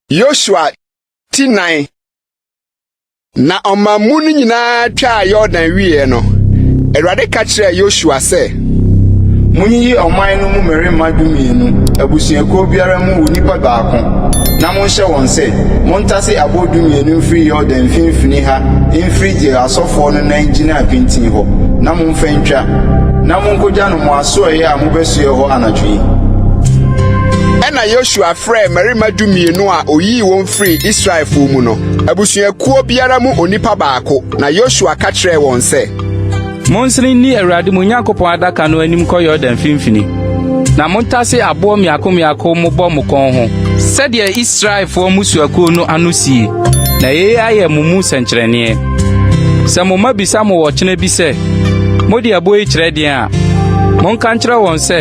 yosua ti nan na ɔmanmu no nyinaa twaa yordan wieɛ no awurade ka kyerɛɛ yosua sɛ monyiyi ɔman no mu mmarima dumienu abusuakuo biara mu onipa baako na monhyɛ wɔn sɛ montase aboɔ dumienu mfiri yordan mfimfini ha mfiri deɛ asɔfoɔ no nan gyina pintinn hɔ Momfa ntwa, na monkogya no mo asoɛeɛ a mobɛsoɛ hɔ anadwo yi. Ɛnna Yosua frɛɛ mmarima dumienu a oyii wɔn firii Israelfoɔ mu no, abusuakuo biara mu onipa baako, na Yosua ka kyerɛɛ wɔn sɛ, Monsene nni Awurade mo Nyankopɔn adaka no anim kɔ Yordan mfimfini, na montase aboɔ mmiako mmiako mobɔ mo kɔn ho sɛdeɛ Israelfoɔ mmusuakuo no ano sie, na yei ayɛ mo mu sɛnkyerɛnneɛ. Sɛ mo mma bisa mo ɔkyena bi sɛ, Mode ɛboɔ yi kyerɛ deɛn a, monka nkyerɛ wɔn sɛ,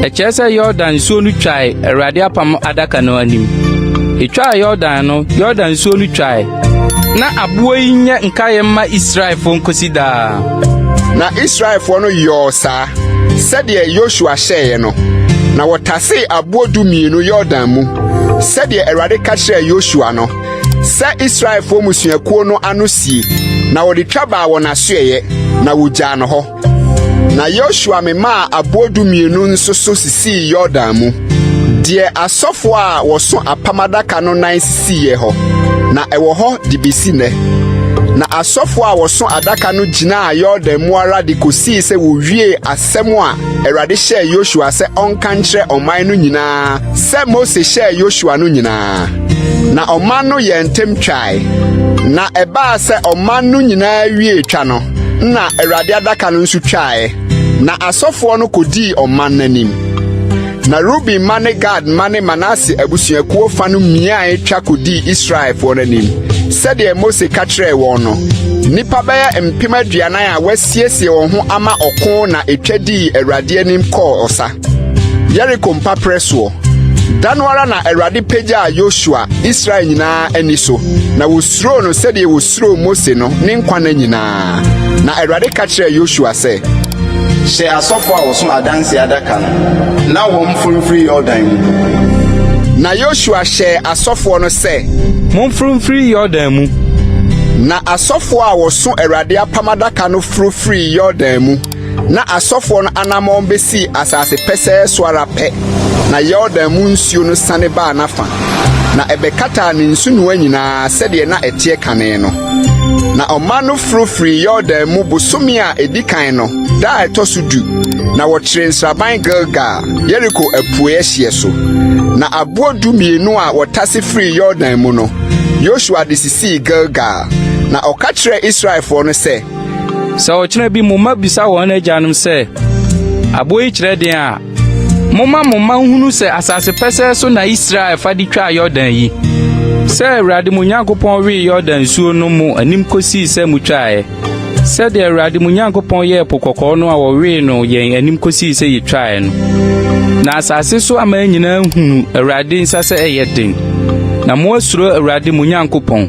ɛkyerɛ sɛ Yordan nsuo no twae Awurade apam adaka no anim. Ɛtwaa Yordan no, Yordan nsuo no twae. Na aboɔ yi nyɛ nkaeɛ mma Israelfoɔ nkosi daa. Na Israelfoɔ no yɔɔ saa sɛdeɛ Yosua hyɛeɛ no, na wɔtasee aboɔ dumienu Yordan mu sɛdeɛ Awurade ka kyerɛɛ Yosua no. Sɛ Israelfoɔ mmusuakuo no ano sie, na wɔde twa baa wɔn asoɛeɛ, na wɔgyaa no hɔ. Na Yosua memaa aboɔ dumienu nso so sisii Yordan mu, deɛ asɔfoɔ a wɔso apam adaka no nan sisiiɛ hɔ, na ɛwɔ hɔ de bɛsi nnɛ. Na asɔfoɔ a wɔso adaka no gyinaa Yordan mu ara de kɔsii sɛ wɔwiee Asɛm a Awurade hyɛɛ Yosua sɛ ɔnka nkyerɛ ɔman no nyinaa sɛ Mose hyɛɛ Yosua no nyinaa. Na ɔman no yɛɛ ntɛm twae, na ɛbaa sɛ ɔman no nyinaa wiee twa no, na Awurade adaka no nso twae, na asɔfoɔ no kɔdii ɔman no anim. Na Ruben mma ne Gad mma ne Manase abusuakuo fa no miae twa kɔdii Israelfoɔ no anim, sɛdeɛ Mose ka kyerɛɛ wɔn no. Nnipa bɛyɛ mpem aduanan a wɔasi siesie wɔn ho ama ɔko na etwa dii Awurade anim kɔɔ ɔsa. Yeriko mpaprɛ soɔ. Da no ara na Awurade pagyaa Yosua Israel nyinaa ani so, na wɔsuroo no sɛdeɛ wɔsuroo Mose no ne nkwa nna nyinaa. Na Awurade ka kyerɛɛ Yosua sɛ, Hyɛ asɔfo a wɔso adanse adaka no na wɔmforo mfiri Yordan mu. Na Yosua hyɛɛ asɔfoɔ no sɛ. Momforo mfiri Yordan mu. Asɔfoɔ a wɔso Awurade apam adaka no foro firii Yordan mu, na asɔfoɔ no anammɔn bɛsii asase pɛsɛɛ so ara pɛ, na Yordan mu nsuo no sane baa n'afa, na ɛbɛkataa ne nsunoa nyinaa sɛdeɛ na ɛteɛ kane no. Na ɔman no foro firii Yordan mu bosome a ɛdi kan no da a ɛtɔ so du, na wɔkyeree nsraban Gilgal, Yeriko apueeɛ hyeɛ so. Na aboɔ dumienu a wɔtase firii Yordan mu no, Yosua de sii Gilgal, na ɔka kyerɛɛ Israelfoɔ no sɛ. Sɛ ɔkyena bi mo mma bisa wɔn agyanom sɛ, 'Aboɔ yi kyerɛ den' a, momma mo mma nhunu sɛ asase pɛsɛɛ so na Israel fa de twaa Yordan yi, sɛ Awurade mo Nyankopɔn wee Yordan nsuo no mo anim kɔsii sɛ motwaaeɛ. Sɛdeɛ Awurade mo Nyankopɔn yɛɛ Po Kɔkɔɔ no a ɔwee no yɛn anim kɔsii sɛ yɛtwaeɛ no. Na asase so aman nyinaa hunu Awurade nsa sɛ ɛyɛ den, na moasuro Awurade mo Nyankopɔn.